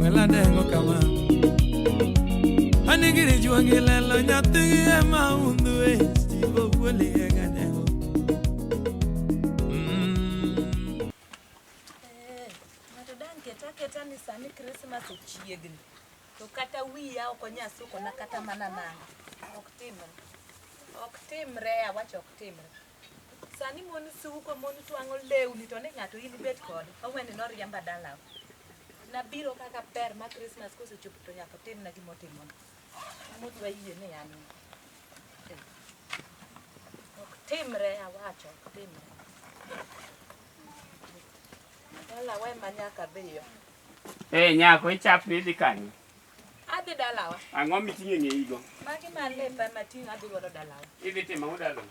Welandengo kama Anigiri juangi lelo nyathi ema undu e Stivo kweli ega dengo Ng'ato dang' ket aketa ni sani Krismas ochiegni to kata wiya ok onyal sukona kata mana nanga. Ok timre. Ok timre, awacho ok timre. Sani mon suko, mon twang'o lewni to ni ng'ato in ibet kode. Owene noriemba dalau. Nabiro kaka ber ma Christmas kosechopo to nyaka otimna gima otimono. Mut wayie ni an eh, ok timre awacho ok timre. Dalawa ema nyaka dhiyo. Eh, nyako ichapni idhi kanye? Adhi dalawa. Ang'o miting'o e ng'eyigo? Magi ma lepa mating'o adhi godo dalawa. Idhi timo ang'o dalawa?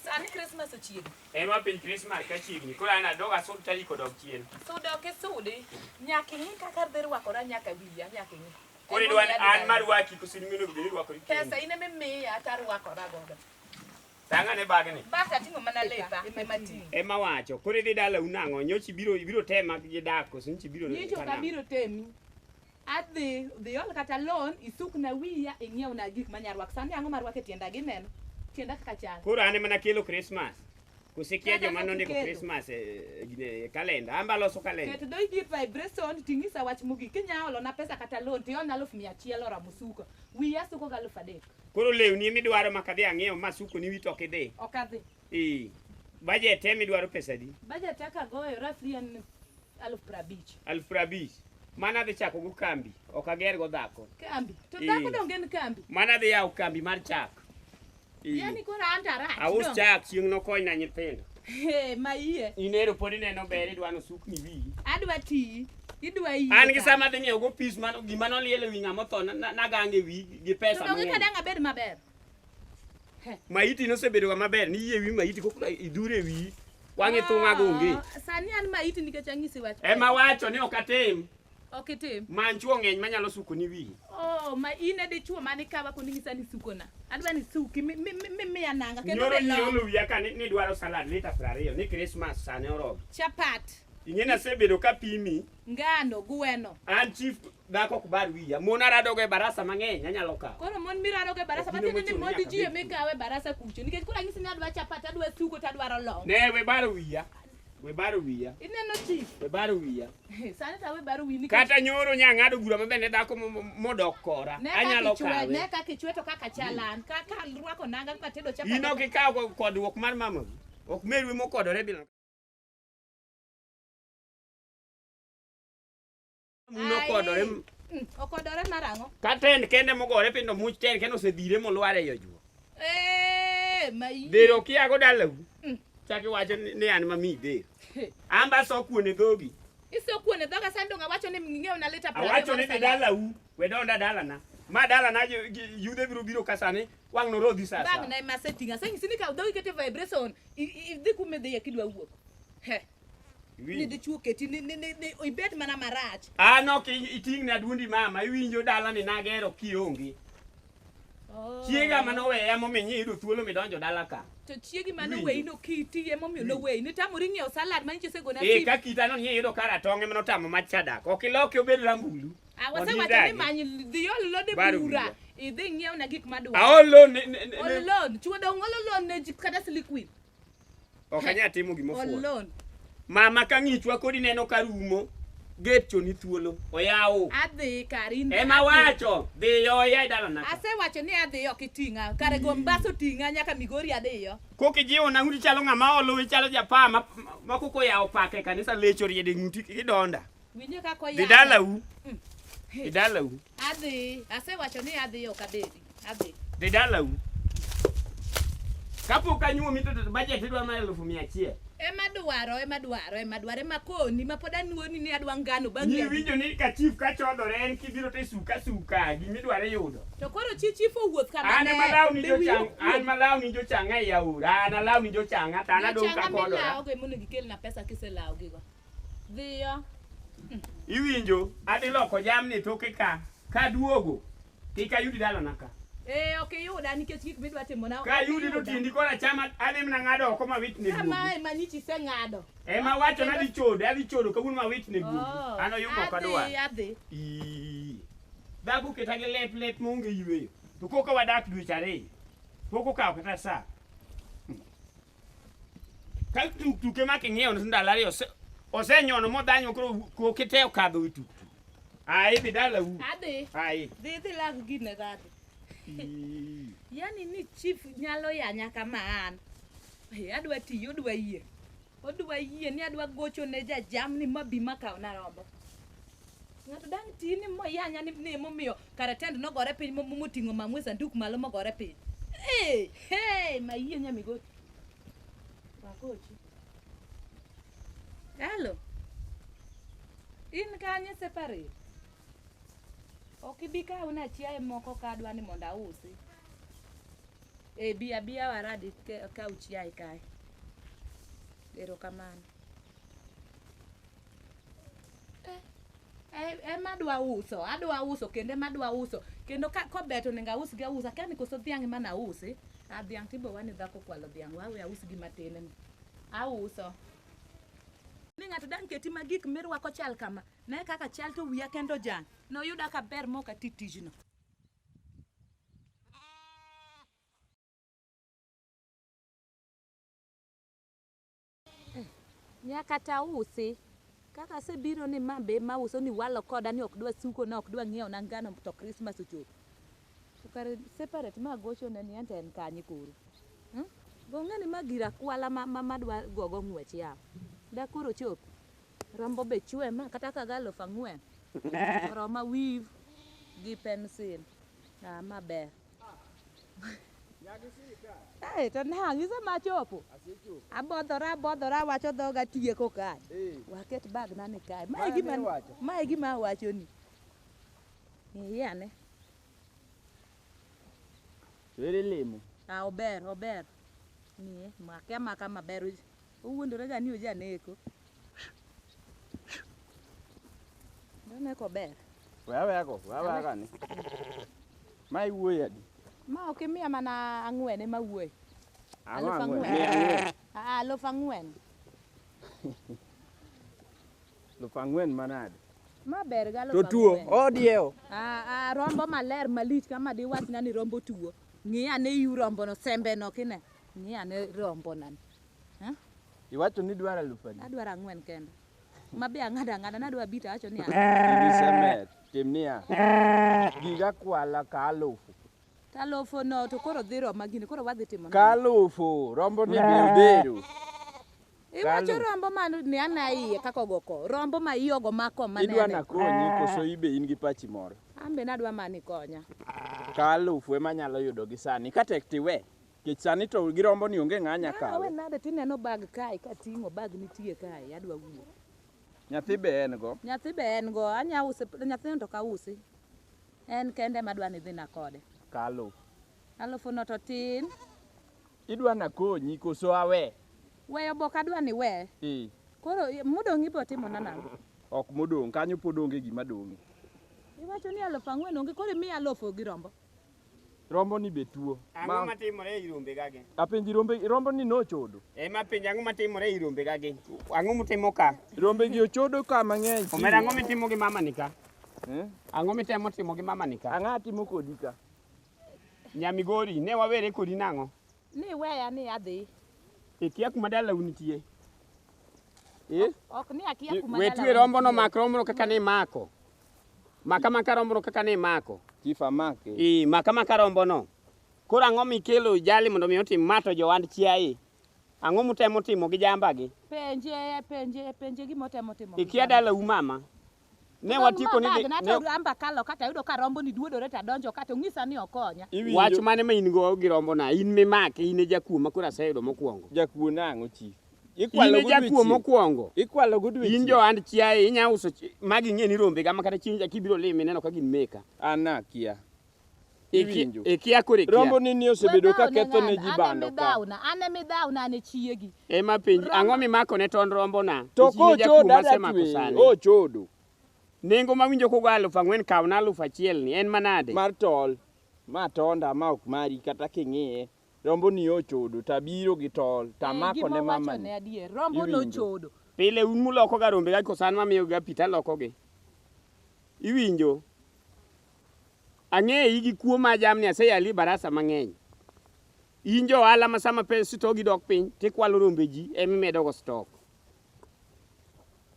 Sani Krismas ochiegni. En ma piny Krismas ka chiegni. Koro an adog asud tarik odog chien. Sudo ok isudi. Nyaka ing'i kaka adhi rwakora nyaka wiya nyaka ing'i. Koro idwa ni an marwaki koso in mino obed ni irwakori kendi? Pesa in ema imiya to arwakora godo. Tanga ne bagni. Bas ating'o mana lepa ema ting'o. Ema wacho, koro idhi dala unang'o, nyochi biro ibiro tema gi dak koso nyochi biro Nyicho ka biro temi. Adhi dhi ol kata loan isuk na wiya ing'iew na gik ma nyarwak. Sani ang'o marwak e tienda gi neno. Tienda kaka chal. Koro an ema nakelo Christmas. Kusikia joma nondiko Christmas e kalenda. Amba loso kalenda. Keto doi di vibration ting'isa wach mogik. Kinya olo na pesa kata loan tiol na aluf mia achiel ora musuko. Wiya suko ga aluf adek. Koro lewni ema idwaro ma kadhi ang'iew ma suko ni wito ok idhi. Ok adhi. Ee. Budget ema idwaro pesa adi? Budget aka goyo roughly en aluf prabich. Aluf prabich. Mana adhi chako go kambi, ok ager go dhako. Kambi. To Ee. dhako donge en kambi. Mana adhi yawo kambi mar chak. Ee. Yaani koro an to arach. Aus dong. chak chieng' nokony na nyithindo. Ee, ma iye. In ero pod ineno ber idwa ni osukni wiyi. Adwa tiyi. Idwa yie. An gi sama dhi ng'iewo go pis man gima noliel ewi ng'ama otho na- na- nagange ewi gi pesa Donge mang'eny. kadang abed maber. Maiti nosebedo ga maber ni yie ewi maiti kokla idhure ewi wang'e thung'a go onge. Ah, Sani an maiti nikech anyisi wach. Ema wacho ni ok atim Ok itim. man chuo ng'eny manyalo suko ni wiyi. Oh, ma in e dichuo mane kawa koni ng'isa ni sukona. Adwa ni suki mi mi mi mi ananga kendo Nyoro be nyie long. olo wiya ka ni ni dwaro salad lita 20 ni Christmas sani oromo. Chapat. Ing'eni asebedo ka pimi. Ngano gweno. An chief dhako ok bar wiya. Mon aradogo e barasa mang'eny anyalo kawo. Koro mon miradogo e barasa matiende ni mon ji e mikawo e barasa kucho. Nikech kula ng'isi ni adwa chapat, adwa sugo, to adwaro long. Ne we bar wiya. We bar wiya. Ineno chief. We bar wiya. Sani ta we bar wiya nikech. Kata nyoro nya ng'ado gura ma bende dhako modok kora. Anyalo kawe. Ne kaka ichwe to kaka chalan. Kaka rwako nanga ma tedo chapat. Ino kikawo kodruok mar mama. Ok merwe mokodore bila. muno kodore Mm, okodore mar ang'o ka ten kende mogore piny to much ten kende osedhire molwar ei ojuo Eh, mayi dhero kiago dalau Mm. chak iwacho ni ni an mami dhero an ba so kuone dhogi isokuone dhoga sandong awacho ni ng'eyo na lita awacho ni dhi dalau we donda dalana ma dalana ju- ju- yudhe biro biro ka sani Wang' norodhi sasa. Bang' na ema setting aseng sini ka dhogi kete vibration idhi kume dhi akidwa wuok. He. Ni dhi chuo keti ni ni ni ibed mana marach. Ah no ki iting na dundi mama iwinjo dala ni nagero kionge. Oh. Chiega mano weya momenyi yudo thuolo midonjo dala ka. To chiegi mano weyi no kiti ye momiyo no weyi. Nitamori ng'iewo salad ma nyichose gona. Eh ka kita no nyie yudo kara tonge mano tamo machadak. Okiloki obed rambulu. Ah, Mondo wasewacho ni idagi. many dhi ol loan e Bar bura wiwa. idhi ng'iew na gik madwaro Aol loan ne- ne- ne- ol ne- loan chuo dong ol loan ne ji kata silikwin ok anyal timo gima ol ofuwo. loan Mama ka ng'ichwa kodi neno ka rumo. Gate choni thuolo. Oyawo. adhi kari in- Ema wacho dhiyo oya e dalana. ka. asewacho ni adhi ok iting'a kare go mbas oting'a nyaka migori adhiyo Koki jiwo na ng'uti chalo ng'ama olo ichalo japaa ma ma koko yawo paka e kanisa lecho riede ng'uti kidonda. Winje kaka oyang. Dhi dalau. Mm. Dhi dalau. Adhi. Asewacho ni adhi ok abedi. Adhi. Dhi dalau. Kapok anyuomi to budget idwa na elfu mia achiel. Ema dwaro, ema dwaro, ema dwaro, ema koni ma pod anuoni ni adwa ngano bang' Ni winjo ni ka chief ka chodore en kibiro te suka suka gimi dwaro yudo. To koro chi chief owuoth ka mane. An malaw ni jochang, an malaw ni jochang e yaura, an alaw ni jochang, an adong ka kodora. Jochang amelaw go emono gikelna pesa kiselaw gigo. Dhiyo. Iwinjo? Adhi loko jamni toke ka. Ka duogo. Kik ayudi dalana ka. Eh, ok iyuda nikech gik midwa timo na. Ka yudi to tindi kora chama adhi mna ng'ado oko ma wit ne guogi. Kama ema nyichi se ng'ado. E ma wacho na dhi chodo, adhi chodo kawuono ma wit ne guogi. Oh, An oyumo ok adwa. Adhi, adhi. Ii. Dhagu keta gi lep lep monge yweyo. To koka wadak dweche ariyo. Pok okawo kata saa. Ka tuktuke ma king'iewo ni ndalo ariyo ose- osenyono modhanyo koro koke te okadho wi tuktuk. Ah, idhi dalau. Adhi. Ah, i- Dhi dhi lag gine kadhi. i- Yaani ni chief nyalo yanya kama an. Hey, adwa tiyo odwa yie. Odwa yie ni adwa gocho ne jajamni ma bi makaw na rombo. Ng'ato dang' ti ni moyanya ni ni momiyo kare tend nogore piny mo- moting'o mamwe sanduk malo mogore piny. Hey, hey, mayie nyamigoti. Wakochi. Hello. In kanye separate? Ok ibi kaw na chiaye moko ka adwa ni mondo ausi. E bi abiya waradi ke- kaw chiaye kae. Erokamano. ema adwa uso adwa uso kendo ema adwa uso kendo ka kobet onego aus gi ausa kani koso dhiang' ema na usi a dhiang' tibo wani dhako kwalo dhiang' wawe aus gi matin ni auso ni ng'ato dang' keti ma gik mirwako chal kama ne kaka chal to wiya kendo jang' noyuda ka ber mok ati tijno Eh, nyaka ta usi kaka asebiro ni ma be ma uso ni walo koda ni ok dwa suko na ok dwa ng'iewo na ngano to Christmas ochopo. To kar separate ma gocho ne ni ante en kanye koro. Hmm? Gong'e ni ma gira kwala ma, ma, ma dwa gogo ng'wech ya. Da koro chop. Rombo be chwe ma kata ka galo fang'wen. Roma weave gi pencil. Ah, ma ber. Hey, to nang' isema chopo abodhora abodhora awacho dhoga tieko kae waket bagna ni kae mae Mano gima iwacho? mae gima awachoni iye ane To ere lemo? Ah, ober ober nie make amaka maber Uj- uwuondorega ni ujaneko Nene kober. Wewe yako, wewe yako ni. Mai wuoyi adi? Ma ok imiya mana ang'wen ema wuoyi. Ang'o Aluf ang'wen? ang'wen. Ang'wen. Ah, aluf ang'wen. Luf ang'wen manade? Ma ber ga aluf To tuo, ang'wen. odiewo. Ah, ah, rombo maler malich kama diwachna ni rombo tuo. Ng'i ane iu rombono, sembeno kine. Ng'i ane rombonani. Eh? Iwacho ni dwaro alufu adi? Adwaro ang'wen kende. Ma be ang'ada ang'ada nadwa abita awacho ni Nisemer, tim niya. Giga kwala ka alufu. to alufu no to koro dhi roma gini koro wadhi timo nang'o? Ka alufu, rombo ni be odhero. Iwacho Kalu. rombo ma ni ana iye kaka ogoko. Rombo ma iye ogo mako ma Idwa nene. nakonyi koso ibe in gi pachi moro? An be nadwa mani konya. Ka alufu ema nyalo yudo gi sani. Ka tek tiwe. Kech sani to girombo ni onge ng'anya kawe. Awe nade tineno bag kae kating'o bag nitie kae adwa wuok. Nyathi be en go. Nyathi be en go. Anya use nyathi no to kausi. En kende ma dwa ni dhi na kode. Kalo. Alufu no to tin. Idwa na konyi koso awe? Weyo bok adwa ni we. Ee. Koro modong' ibo timo na nang'o? Ok modong' kanyo pod onge gima dong'e. Iwacho ni alufu ang'wen onge koro imiya alufu gi rombo. Romboni be tuo. Ang'o matimore ei rombegagi? Apenji rombe, romboni nochodo. E ma penji ang'o matimore ei rombegagi? Ang'o mutimo ka? Rombegi ochodo ka mang'eny. Omera ang'o mitimo gi mama ni ka? Eh? Ang'o mitemo timo gi mama ni ka? Ang'o atimo kodi ka? Nyamigori, ne wawere kodi nang'o? Ni weya ni adhi. Ikia kuma dalau nitie. Eh? Ok ni akia kuma dalau. Wetwe rombo no mak rombo kaka ni mako. Maka maka rombono kaka ne imako. Chief amake. Ii, maka maka rombono. Koro ang'o mikelo jali mondo mi otim ma to jowand chiaye? Ang'o mutemo timo gi jambagi? Penje, penje, penje gima otemo timo. Ikia dala u mama. Ne watiko ni dhi- Nato ne- ramba kalo kata yudo ka rombo ni duodore ta donjo kata ong'isa ni okonya. Iwinjo? Wach mane ma in go gi rombona? In mimake, in e jakuo ma koro aseyudo mokwongo. Jakuo nang'o chief? Ikwalo in jakuo mokwongo. Ikwalo go dweche. In johand chiaye inya uso magi ng'e ni rombe gama kata chieng' jaki biro limi neno ka gin meka. Ana kia. Iwinjo. Ikia kore kia. Rombo ni ni osebedo ka ketho ne ji bando ka. Ana midhawna, ana midhawna ana chiegi. Ema penj, ang'o mimako ne ton rombo na? To ko chodo adatwe. O chodo. Nengo ma winjo kogo aluf ang'wen kaw na aluf achiel ni en manade? Mar tol. Ma tonda ma ok mari kata king'iye. Rombo ni ochodo to abiro gi tol to amako ne mama ni. Adier, rombo no chodo. Pile un muloko ga rombe ga kosan ma miyo ga pi to aloko gi. Iwinjo? Ang'eyi gi kuo ma jamni aseyali barasa mang'eny. In jo ohala ma sama pes stogi dok piny to ikwalo rombe ji ema imedo go stok.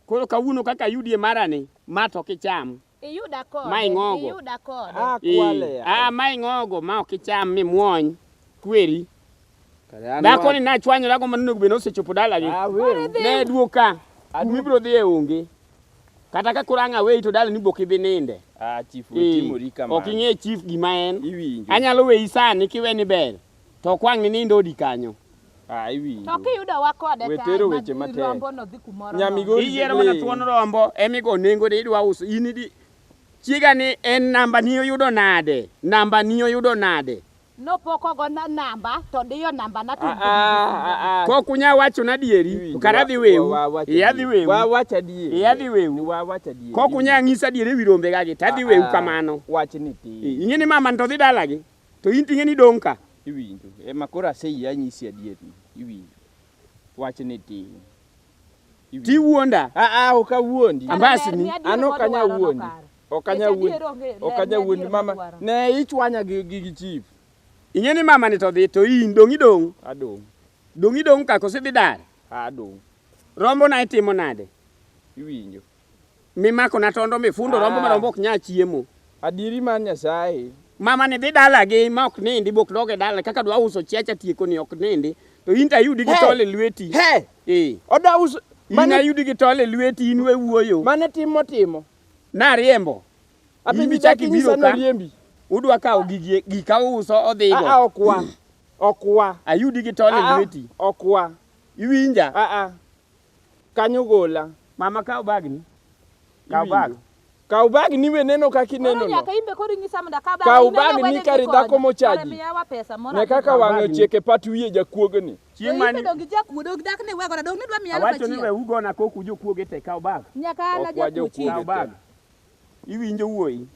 Koro kawuono kaka ayudie marani, ma to ok icham. Iyuda kode. Ma ing'ogo. Iyuda kode. Ah, Eh, kwale ya. ah, ma ing'ogo ma ok icham mimuony kweri. Kare an Dhako wa- ni nachwanyora go manonego bed ni osechopo dalagi. Ah, wewe. Ne duoka. Adu- Umi biro dhi e onge. Kata ka koro ang' aweyi to dalani bok idhi ninde. Ah, chief Eh, wetimori kamano. Ok ing'e chief gima en. Iwinjo. Anyalo weyi sani kiweni ber. To okwang' ni nindo odi kanyo. Ah, iwinjo. To kiyudo wa kode We tero weche matek. rombo no dhi kumoro. nono. Nyamigori Iyiero mana siling'. thuon rombo emigo nengo de idwa uso in idi chiega ni en namba ni oyudo nade namba ni oyudo nade Nopoko go na namba to diyo namba na to. Ah, ah, ah, ah. kok unya wacho na dieri Iwinjo, to kara dhi wa- wewu wa- wacha iya dhi dier. wewu Wa- wacha adier. Iya dhi wewu. Ni wa- wacha adier. kok unya ng'isa dieri wi rombe gagi ta dhi wewu Ah, ah, kamano wachni ti ing'e ni mama to dhi dalagi To in ting'e ni dong' ka. Iwinjo. E ma koro aseyie anyisi adier ni. Iwinjo. Wach ni ting'. Ti wuonda. A a ok awuondi. Ambasni. An ok anya wuondi. Ok anya wuondi. Ok anya wuondi mama. Ne ichwanya gi gi chief. Ing'e ni mama ni to dhi to in dong' idong'. Adong'. Dong' idong' ka kosidhi dar. Adong'. Rombo na itimo nade? Iwinjo. Mimakona tondo mifundo ah. rombo marombo ok nya chiemo. Adieri mar Nyasaye. Mama ni dhi dalagi ma ok nindi bok doge dala kaka dwa uso chiacha tieko ni ok nindi to in tayudi gi tole lweti. He. Eh. Oda uso mane ayudi gi tole lweti in we wuoyo. Mane timo timo. Na riembo. Apenji chaki biro ka. Udwa kawo gigi gika uso odhigo. Ah, ah okwa. Okwa. Ayudi gi tole ah, ah. lweti. Okwa. Iwinja. Ah ah. Kanyo gola. Mama kaw bagni. Kaw bag. Iwinjo? Kaw bagni we neno kaka Koro ineno no. nyaka imbe koro inyisa mondo akaw bag. Kaw Ineno bag ni wede kar gikonya. dhako mochaji. Kare miyawa pesa moro. Ne kaka wang'e Bagni. ochiek e pat wiye jakuogni. Chieng' Chieng' mani. mani Dongi jakuo dog dak ne wegora dog ne dwa miya alfa Awacho ni we achiel. ugona koku jokuoge te kaw bag. Nyaka ana Ok wajo jakuo chieng'. Kaw kuoge. bag. Iwinjo wuoyi.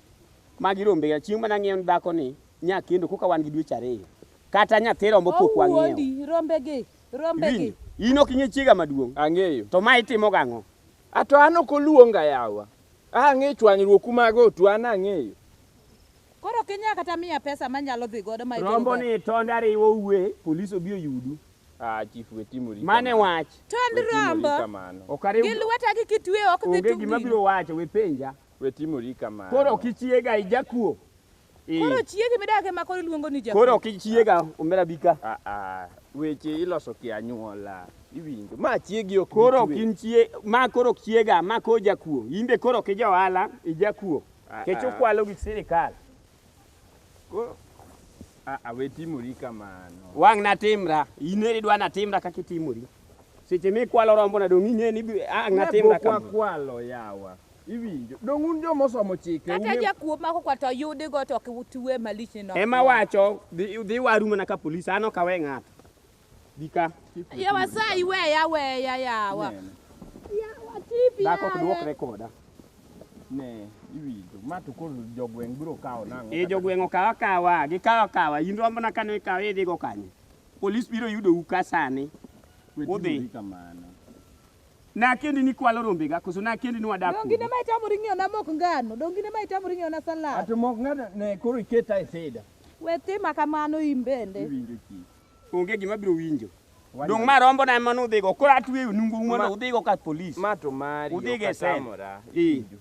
Magi rombe ya chieng' mana ng'iewo ni dhako ni nya kendo koka wan gi dweche ariyo. Kata nyathi rombo pok wang'iewo. Owuondi rombegi. Rombegi. Iwinjo? In ok ing'e chiega maduong'. Ang'eyo. To ma itimo gang'o? A to an ok oluonga yawa. A ang'e chwanyruoku mago to an ang'eyo. Koro ok inya kata miya pesa manyalo dhi godo ma itero Rombo ni tond ariwo uwe, polis obi oyudu. A chief we timori. Mane kamano. wach. Tond We timori rombo. kamano. Ok ariw. Gi lweta gi kitweyo ok dhi Onge gima tungni. biro wacho, we penja. We timori kamano. Koro ok ichiega, ijakuo. Ii. Koro chiegi midake ma koro iluongo ni jakuo. Koro ok ichiega omera bika. Ah ah. Weche iloso ki anyuola. Iwinjo. Ma chiegi ok Koro ok in chie ma koro ok chiega ma koro jakuo. In be koro ok ija ohala ijakuo. Ah, Kech ah. ukwalo gi sirikal. Koro ah ah we timori kamano. Wang' na timra. In eri dwa na timra kaka itimori. Seche mikwalo rombo na dong' ing'e ni bi- ang' na timra Pok kamano. wakwalo yawa. Iwinjo. Donge un joma osomo chike? Kata ung'e- jakuo mako kwa to yudi go to ok utue malich ni no. Ema wacho dhi dhi waru mana ka polis an ok awe ng'ato. Bika. Ya wasayi weya weya yawa. Nene. Yawa tipi. Dhako ok duok rekoda. Ne, iwinjo. Ma to koro jogweng' biro kawo nang'o? E jogweng' okawa kawa, gikawa kawa. In rombo na kane ikawa idhi go kanye. Polis biro yudo u ka sani. Udhi. Udhi. Kamano. Nakendi ni kwalo rombega koso nakendi ni wadak Donge in ema itamori ng'iewona mok ngano? Donge in ema itamori ng'iewona salad? Ato mok ng'ato ne koro iketa e sida. We tima kamano in bende. Iwinjo chi. Onge gima biro winjo. Wanyalo- Dong' ma rombo na ema nudhigo. Koro atweyo nungu mondo Ma- udhigo ka polis. Ma to mari. Udhigo e sel. okatamora. Ee. Iwinjo.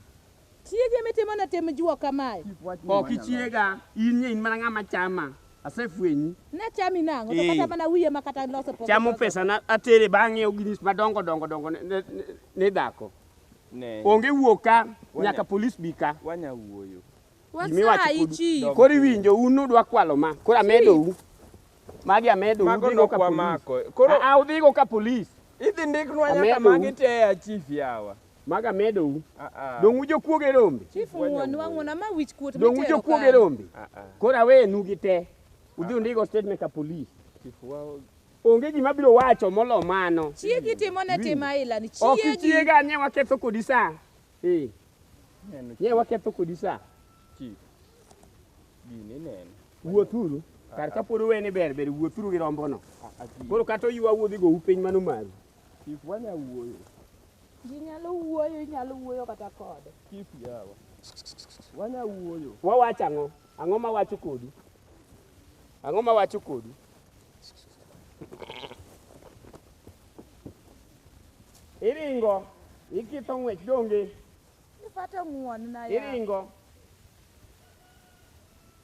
Chiege mitimone tim juok kamae. Ok ichiega, in nye in mana ng'ama chama. Asefwenyi. Nachami nang'o? To Ee. kata mana wiye ma kata loso pok Chamo iloso. pesa na atere bang'e oginis madongo dongo dongo ne- ne- ne- ne dhako. Ne. Onge wuok ka Wanya- nyaka polis bi ka. Wanya wuoyo. Gimiwacho Wasayi kod- chief. Koro iwinjo un nudwa kwalo ma. Koro amedou. Magi amedou. Mago udhigo ka polis. nokwamako. Koro- Ah, ah, udhigo ka polis. Idhi ndiknwa nyaka Amedo. magi te ya chief yawa. Mag amedou. Donge ujokuoge rombe? Chief ng'wonwa ng'wonwa ma wich kuot Donge mitero ujokuoge kanye? rombe? Koro awenu gi te. Udhi undigo statement ka polis. Onge gima biro wacho molo mano. Chiegi timo ne tim aila ni Ok chiegi. ichiega nye waketho kodi sa. Eh. Nye waketho kodi sa. Wuothuru. Kar ka pod uwene ber ber wuothuru gi rombono. Koro kata oywa wuodhigo upiny mano maru. Ji nyalo wuoyo, inyalo wuoyo kata kode. Chief yawa. Wanya wuoyo. Wawacho ang'o? Ang'o ma wacho kodu? Ang'o ma wacho kodu? Iringo, ikitho ng'wech donge? Ifata ng'won na ya. Iringo.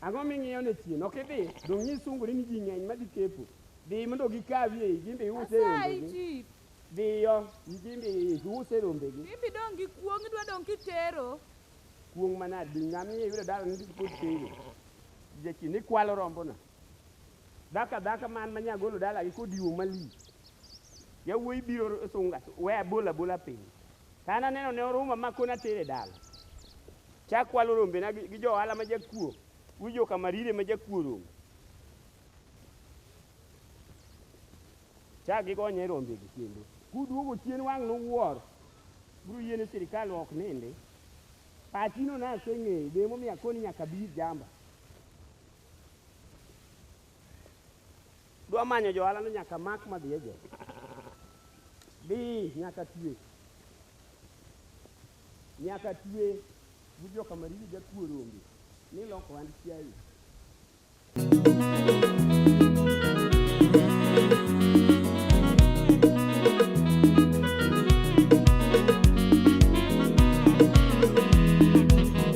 Ang'o ming'iyo ne chien? Ok idhi. Dong' nyis sunguri ni ji ng'eny madhi kepo. Dhi mondo gikawie iyi, gin be iuse e Asayi rombegi. chief. Dhiyo, gin be iuse e rombegi. Ibi dong' gi kuong' idwa dong' kitero. Kuong' manade? Dhi ngamia iyudo dala nigi kod tenge. Jachi ni kwalo rombona. Dhaka dhaka man ma nyagolo dalagi kodiwo malich. Yawuoyi biro sunga, we abola abola piny. Ka an aneno ne orumo amakone atere dala. Chak kwalo rombena gi, gi jo ohala ma jakuo. Wi joka marire ma jakuo rombe. Chak gigonye rombegi kendo. Kuduogo chien wang' nuwuor. Biro yie ni sirkal ok nindi. Pachino naseng'eyo, be emomiyo akoni nyaka bir jamba. Dwa manyo johala no nyaka mak madhi e jela. Bi nyaka tue. Nyaka tue gi joka mariri ga kuo rombe ni loko hand chiayi.